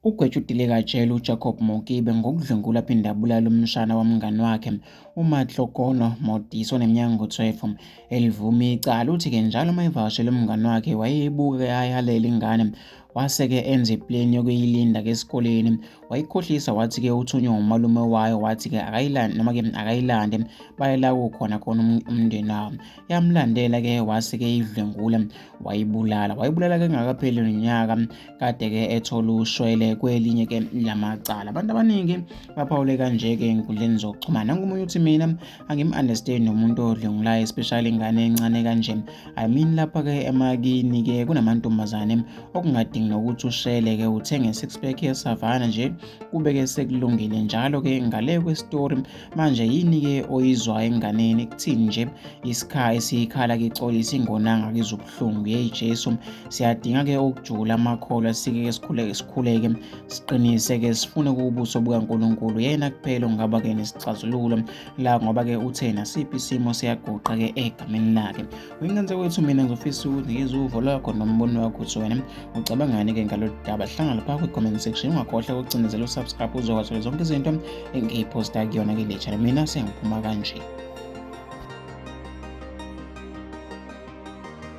Ugwetshutile kajele uJacob Mokibe ngokudlwengula aphinde abulala umshana womngani wakhe uMatlokono Modise oneminyaka ngo-12 elivuma icala. Uthi-ke njalo uma evakashele umngani wakhe wayeyibuka ayalele ingane wase-ke enza ipleni yokuyilinda-ke esikoleni wayikhohlisa wathi-ke uthunywe umalume wayo wathi-ke akayilande noma-ke akayilande bayela kukhona khona um-, umndeni wabo yamlandela-ke wase-ke idlwengula wayibulala wayibulala-ke ngakapheli nonyaka kade-ke ethola ushwele kwelinye-ke lamacala abantu abaningi baphawule kanje-ke enkundleni zokuxhumana nangomunye uthi mina angim understand nomuntu odlengulayo especially ingane encane kanje i mean lapha ke emakini ke kunamantombazane okungadingi nokuthi ushele ke uthenge six pack ye savana nje kube ke sekulungile njalo ke ngale kwe story manje yini ke oyizwa enganeni kuthini nje isikha esiyikhala ke xolisa ingonanga kizobuhlungu hey Jesu siyadinga ke ukujula amakholwa sike ke sikhuleke sikhuleke siqinise-ke sifune kuwubuso bukaNkulunkulu yena kuphela ongaba-ke nesixazululo la ngoba-ke uthe nasiphi isimo siyaguqa-ke egameni lakhe uyingenze kwethu mina ngizofisa ukuthi ngizwe uvo lwakho nombono wakho ukuthi wena ucabangani-ke ngalolu daba hlangana lapha kwi-comment section ungakhohlwa ukucinezela usubscribe uzokwazi zonke izinto engiyiphosta kuyona-ke le channel mina sengiphuma kanje